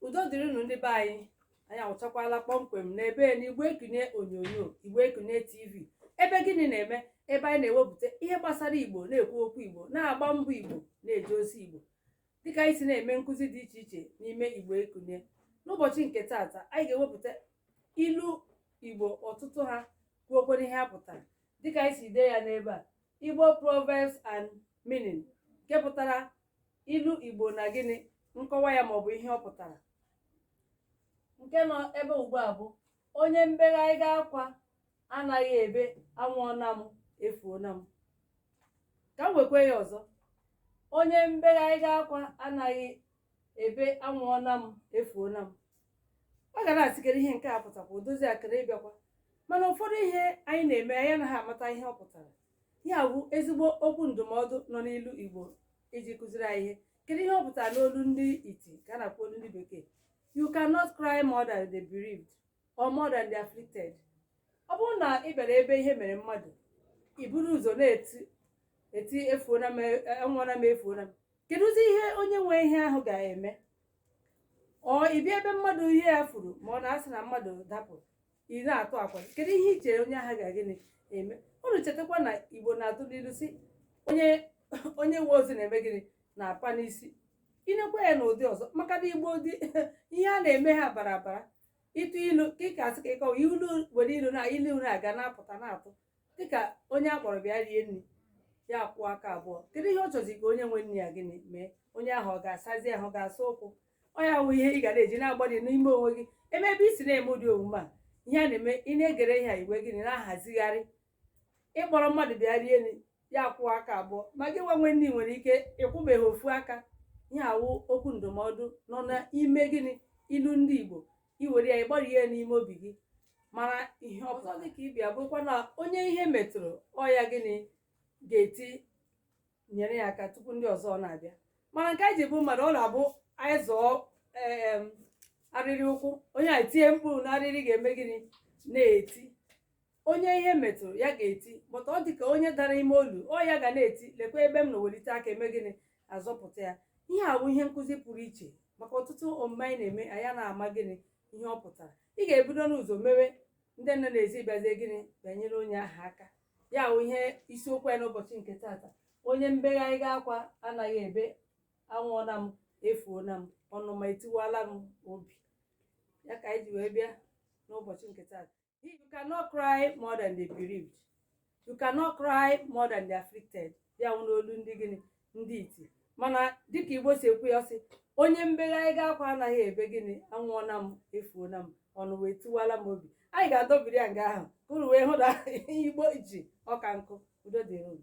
udo dịrịnụ ndị be anyị anyị awụchakwala kpọmkwem n'ebe n'igbo ekunie onyonyo igbo ekunie tv ebe gịnị na-eme ebe anyị na-ewepụta ihe gbasara igbo na-ekwu okwu igbo na-agba mbọ igbo na-eje ozi igbo dịka anyị si na-eme nkụzi dị iche iche n'ime igbo ekunie n'ụbọchị nke taata anyị ga-ewepụta ilu igbo ọtụtụ ha kwuokwere ihe ha pụtara dịka anyị si dee ya n'ebe a igbo proverbs and meaning nke pụtara ilu igbo na gịnị nkọwa ya maọbụ ihe ọ pụtara nke nọ ebe ugbu a bụ onye mbegharịga akwa anaghị ebe anwụọna m efuona m ka m wekwe ya ọzọ onye mbegharịga akwa anaghị ebe anwụọna m efuona m ọ ga na-asị kere ihe nke a pụtakwa o dozi akara ịbịakwa mana ụfọdụ ihe anyị na-eme anyị anaghị amata ihe ọ pụtara ihe a bụ ezigbo okwu ndụmọdụ nọ n'ilu igbo iji kụziri anyị ihe kedu ihe ọ pụtara n'olu ndị iti ka a na-akpọ olu ndị bekee you cannot cry more than the bereaved or more than the afflicted ọ bụrụ na ị bịara ebe ihe mere mmadụ i buru ụzọ na-eti eti efuona m anwụọna m efuona m kedụzi ihe onye nwe ihe ahụ ga-eme or ị bịa ebe mmadụ ihe ya furu ma ọ na-asị na mmadụ dapụ ị na-atụ akwa kedu ihe i chere onye ahụ ga gịnị eme unu chetakwa na igbo na-atụ n'ilu sị onye nwe ozu na-eme gịnị na-apa n'isi i nekwa ya n'ụdị ọzọ maka na igbo dị ihe a na-eme ha bara abara ịtụ ilu ka ị ga-asị ka ị kọwa ilu were ilu na ilu na-aga na-apụta na-atụ dịka onye a kpọrọ bịa rie nri ya kwọọ aka abụọ kedu ihe ọ chọzi ka onye nwe nri ya gịnị mee onye ahụ ọ ga-asazi ahụ ọ ga-asa ụkwụ ọ ya wụ ihe ị ga na-eji na-agbari n'ime onwe gị ebe ebe i si na-eme ụdị omume a ihe a na-eme ị na-egere ihe a i wee gịnị na-ahazigharị ị kpọrọ mmadụ bịa rie nri ya akwọwa aka abụọ ma gị nwa nwe nri nwere ike ị kwọbeghị ofu aka ihe a wụ okwu ndụmọdụ nọ n'ime gịnị ilu ndị Igbo i were ya ị gbarie ya n'ime obi gị mara ihe ọzọ dị ka ibe ya bụkwa na onye ihe metụrụ ọ ya gịnị ga-eti nyere ya aka tupu ndị ọzọ na-abịa mana nke anyị ji bụ mmadụ ọ na-abụ anyị zọọ em, arịrị ụkwụ onye a tie mkpu na arịrị ga-eme gịnị na-eti onye ihe metụrụ ya ga-eti bọta ọ dị ka onye dara ime olu ọ ya ga na-eti lekwa ebe m nọ welite aka e mee gịnị a zọpụta ya ihe a bụ ihe nkụzi pụrụ iche maka ọtụtụ omume anyị na-eme anyị a na-ama gịnị ihe ọ pụtara ị ga-ebido n'ụzọ mewe ndị nọ n'ezi bịazie gịnị bịa nyere onye ahụ aka ya wụ ihe isiokwu ya n'ụbọchị nke taata onye mbegharịga akwa anaghị ebe anwụọna m efuona m ọnụma etiwala m obi ya ka anyị ji wee bịa n'ụbọchị nke taata you cannot cry more than the bereaved you cannot cry more than the afflicted ya wụ n'olu ndị gịnị ndị iti mana dịka igbo si ekwu ya sị onye mbegharịga akwa anaghị ebe gịnị anwụọna m efuona m ọnwụ etiwala m obi anyị ga-adọbiri ya nga ahụ ka unu wee hụ na igbo ji ọka nkụ udo dịrị unu